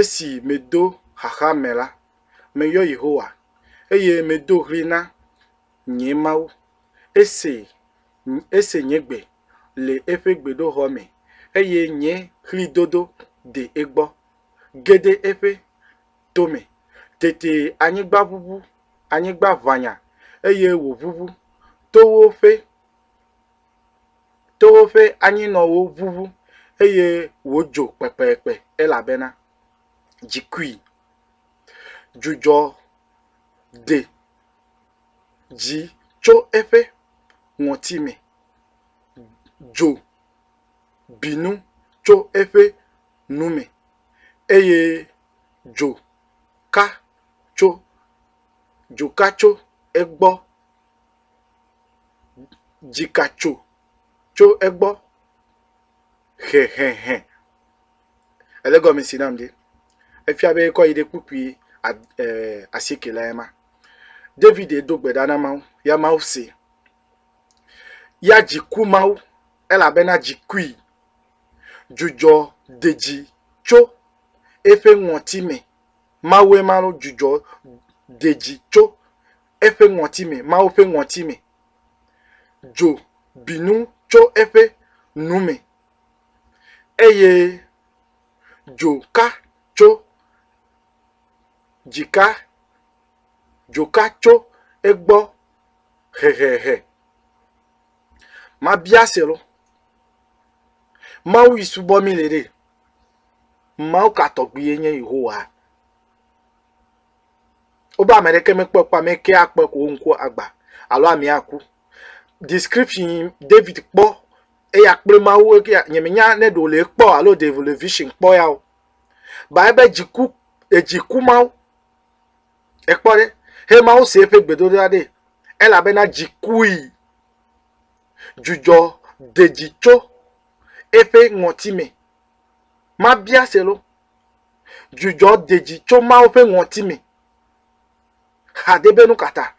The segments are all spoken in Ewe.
Esi medo xaxa me la, meyɔ Yehowa, eye medo ɣli na nye Mawu. Ese, ese nye gbe le eƒe gbedoxɔ me, eye nye ɣlidodo de egbɔ, ge ɖe eƒe tome. Tete anyigba ʋuʋu, anyigba ʋanya, eye wòʋuʋu, towo ƒe. towo ƒe anyinɔwo ʋuʋu eye wodzo kpekpekpe elabena dzi kui. Dzudzɔ ɖe dzi tso eƒe ŋɔti me. Dzo bi nu tso eƒe nu me eye dzo ka tso dzoka tso egbɔ. dzika tso tso egbɔ hehehe ele gɔme si nam ɖi efia be ekɔ yi ɖe kpukpui ad e asike le ema. David do gbe ɖa na Mawu ya Mawu see. Ya dzi ku Mawu elabena dzi kui. Dzudzɔ de dzi tso eƒe ŋɔtime. Mawue ma lɔ dzudzɔ de dzi tso eƒe ŋɔti me, Mawu ƒe ŋɔti me. Dzo bi nu tso eƒe nu me, eye dzo ka tso dzika, dzo ka tso egbɔ hehehe. Mabia se lo, Mawu yi subɔ mi le ɖe? Mawu ka tɔgbi ye nye Yehowa? Wobe ame ɖeke mekpɔe kpɔ ame ke akpɔe ko wo ŋku agbã alo amea aku. Description, David kpɔ eya kple Mawu eke ya. Nyemenya ne ɖe wòle ekpɔ alo ɖe wòle vision kpɔ ya o. Ba ebe dziku, edzi ku Mawu. Ekpɔ ɖe? He Mawu se eƒe gbedodoɖa ɖee. Elabena dzi kui. Dzudzɔ de dzi tso eƒe ŋɔti me. Mabia se lo. Dzudzɔ dedzi tso Mawu ƒe ŋɔti me. Xade be nu ka ta?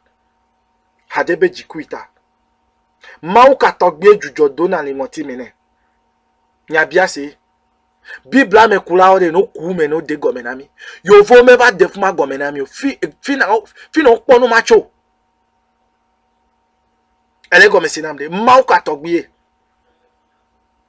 Xade be dzikui ta. Mawu ka tɔgbie dzudzɔ dona le ŋɔti me nɛ? Miabia se. Biblia me kulawo ɖe no ku me no de gɔme na mi. Yovo me va de fuma gɔme na mi. Fi fi na fi na kpɔ nu ma tso. Ele gɔme si nam de. Mawu ka tɔgbie.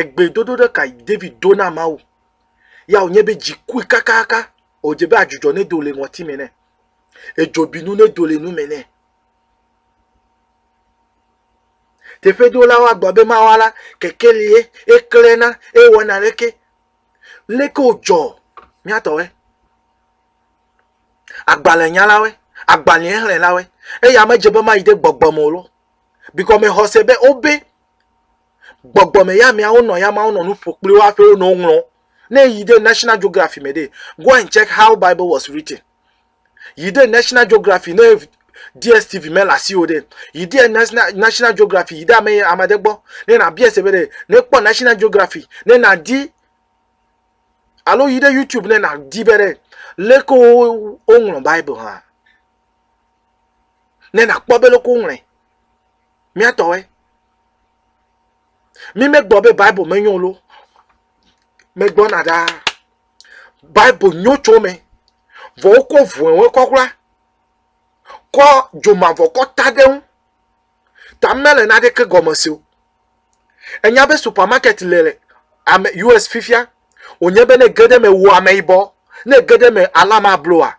Egbedodoɖa kae David do na Mawu? Ya wònye be dzi kui kakaka, wòdze be adzudzɔ nedo le ŋɔtime nɛ, edzobinu nedo le nume nɛ. Teƒedolawo agblɔ be mawa la, keke li ye, eklẽna, eye wɔna leke. Leke wodzɔ míatɔwoe, agbalẽnyalawoe, agbalẽxlẽlawoe, eye ame dze be mayi ɖe gbɔgbɔ me o lɔ, Bigɔmexɔse be wobe gbɔgbɔ me ya meawo nɔ ya mawo nɔ nu ƒo kpli wo hafi wonɔ woŋlɔ. Ne yi ɖe National Geography me ɖe, go and check how Bible was written. Yi ɖe National Geography ne DSTV mele asi o ɖe, yi ɖe National Geography yi ɖe ame ame aɖe gbɔ ne nabia se be ɖe ne kpɔ National Geography ne nadi alo yi ɖe YouTube ne nadi be ɖe leke woŋlɔ Bible hã. ne nàkpɔ be loko woŋlɔe. Mía tɔwoe. Mi megblɔ be Bible menyo o lo. Megblɔna ɖaa. Bible nyo tso me. Vɔ wokɔ vɔ̃ewe kɔkla. Kɔ dzomavɔ kɔ ta ɖe ŋu. Ta mele naɖeke gɔme se o. Enya be supermarket le le ame US fifia. Wònye be ne ge ɖe me wò ameyibɔ. Ne ge ɖe me alama bloa.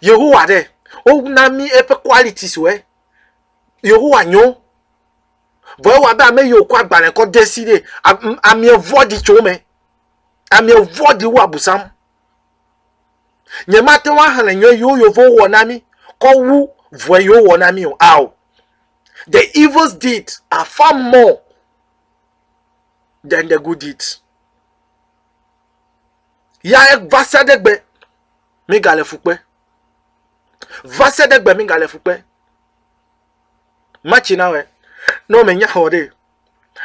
Yehowa ɖe, wona mí eƒe qualities wɔ. Yehowa nyo. Vɔ ewa be ame yiwo kɔ agbalẽ kɔ de si ɖe amia vɔɖi tso me. Amia vɔɖi wu abusam. Nyemate ŋu axlẽ nyɔ yiwo yevo wɔ na mí kɔ wu vɔe yiwo wɔ na mí o. Ao. The evils did are far more than the good deeds. ya va se ɖe gbe migale fukpe va se ɖe gbe migale fukpe matsi na wɛ ne womenya xɔ ɖe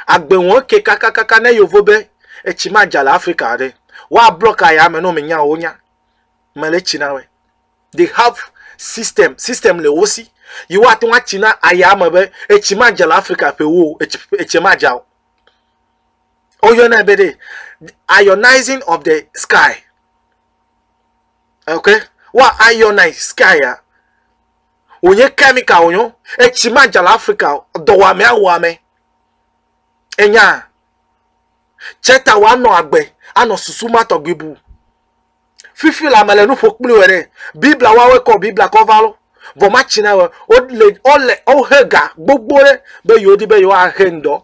agbe wɔn ke kakakaka ne yovo be etsi ma dza le afrika ɖe woablɔ ka ya me ne womenya wonya mele tsi na wɛ they have system system le wo si yi woate ŋu atsi na aya me be etsi ma dza le afrika ƒe wo etsi ma dza o woyɔnɛ be ɖe ionizing of the sky ok wa ionize sky ya wònye chemical wònyo etsi ma dza le afrika dɔwɔame awɔame enya tsɛ ta wòanɔ agbe anɔ susu ma tɔgbi bu fifi la mele nuƒo kpli wɔ ɖe bibla wawe kɔ bibla kɔ va lo vɔ ma tsi na wɔ wole wole wohe ga gbogbo ɖe be yewo di be yewo ahe ŋdɔ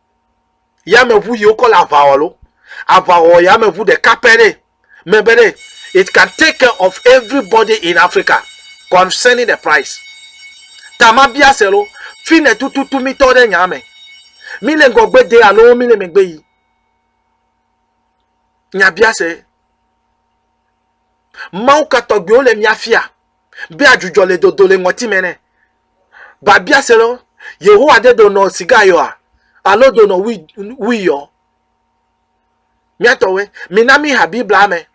yameʋu yi wokɔ le aʋa wɔ lo aʋa wɔ yameʋu ɖeka pɛ ɖe me be ɖe it can take care of everybody in africa concerning the price ta ma bia se lo fi ne tututu mi tɔ ɖe nya me mi le ŋgɔgbe de alo mi le megbe yi nya bia se mawu katɔgbewo le mia fia be adzudzɔ le dodo le ŋɔtime nɛ. Babia se lɔ, Yehowa de donɔ siga yɔa? Alo donɔ wui yɔ? Míatɔwe, mina mí ha Biblia me.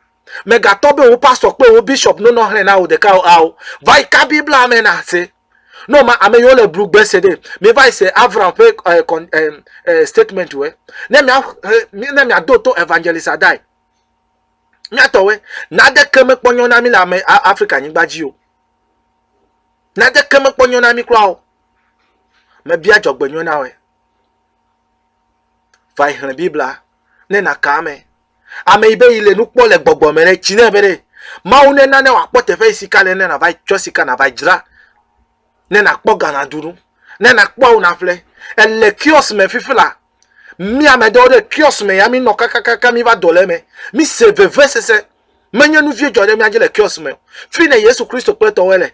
Megatɔ be wò pastɔ kple wò bishop nonɔ hlẽ na wò ɖeka o ao. Va yi ka Biblia me na se. Ne wòma ame yiwo le blu gbe se ɖe, miva yi se Avram ƒe eh, eh, eh, statement we. Ne miado to Evangelist Adai. Míatɔwoe, naneke mekpɔ nyɔ na mí le ame Afrika nyigba dzi o. Naneke mekpɔ nyɔ na mí kura o. Mebia dzɔgbenyɔ na wòe. Va yi xlẽ Biblia ne nàka ame. Ame yi be yi le nu kpɔ le gbɔgbɔ me ɖe, tsi nɛ be ɖe Mawu ne nane wòakpɔ teƒe yi sika le ne nàva yi tsɔ sika nàva yi dzra ne nàkpɔ Ghana dunu ne nàkpɔ awu naƒle. Ele kiɔs me fifi la, Mi ame ɖewo ɖe kiɔs me ya mi nɔ kakakaka mi va do le me. Mi se veve sese. Menye nu vie dzɔ ɖe mia dzi le kiɔs me. Fi ne Yesu Kristo kple tɔwɔe le.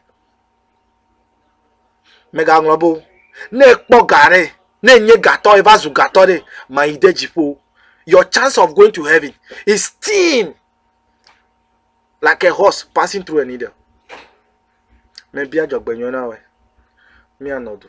Mega ŋlɔ bo. Ne kpɔ ga ɖe, ne nye gatɔ eva zu gatɔ ɖe, ma yi de dziƒo. Your chance of going to heaven is thin like a horse passing through a needle. Me bia dzɔ gbe nyɔna wɛ. Mia nɔ du.